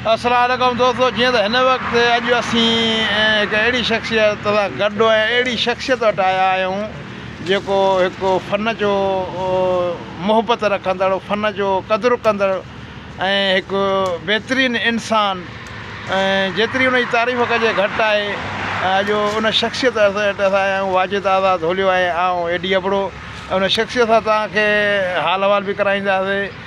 السلام عليڪم دوستو جيئن ته هن وقت اڄ اسين هڪ اهڙي شخصيت سان گڏ ۽ اهڙي شخصيت وٽ آيا آهيون جيڪو هڪ فن جو محبت رکندڙ فن جو قدر ڪندڙ ۽ هڪ بهترين انسان جيتري ان جي تعريف ڪجي گهٽ آهي اڄ ان شخصيت وٽ اسين آيا آهيون واجد آزاد هوليو ۽ آئون اي ڊي ابڙو ان شخصيت سان توهان کي حال احوال به ڪرائينداسي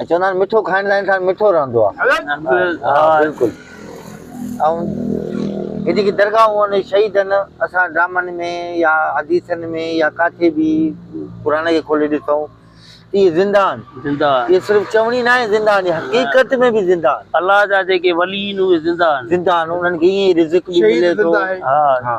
۽ چوندا آهن مٺو کائڻ سان انسان مٺو رهندو آهي بلڪل ۽ هي جيڪي درگاهون آهن شهيدن اسان ڊرامن ۾ يا حديثن ۾ يا ڪاٿي به قرآن کي کولي ڏسون اهي زنده آهن زنده آهن اهي صرف چوڻي نه آهي زنده آهن حقيقت ۾ به زنده آهن الله جا جيڪي ولي آهن اهي زنده آهن زنده آهن انهن کي ايئن رزق به ملي ٿو شهيد زنده آهي ها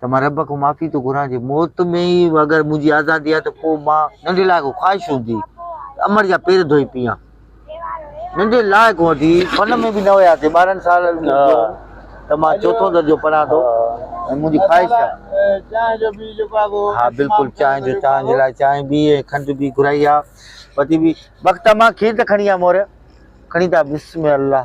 ته مان رب کان معافي ٿو گهران جي موت ۾ ئي اگر منهنجي آزادي آهي ته پوء مان ننڍي لاء ڪو خواهش هوندي ته امڙ جا پير ڌوئي پيان. ننڍي لاء ڪو هوندي فن ۾ به نه هياسي ٻارهن سال ته مان چوٿون درجو پڙهان ٿو ۽ منهنجي خواهش آهي. چانهه جو بي جيڪو آهي اهو. ها بلڪل چانهه جو چانهه جي لاء چانهه بي ۽ کنڊ بي گهرائي آهي. پتي بي بخت امان کير ته کڻي آ مور کڻي ته آ بسم الله.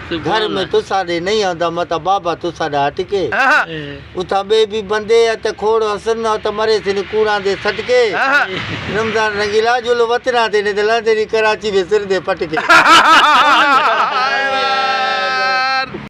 گهر ۾ توسان ڏي نئي آندا متان بابا توسان ڏا هٽڪي اتان ٻي بي بندي ات کوڙ حسن نا ات مري سين ڪوڙان دي سٽڪي رمضان رنگيلا جلو وطنا تي نت لندني ڪراچي ۾ سر دي پٽڪي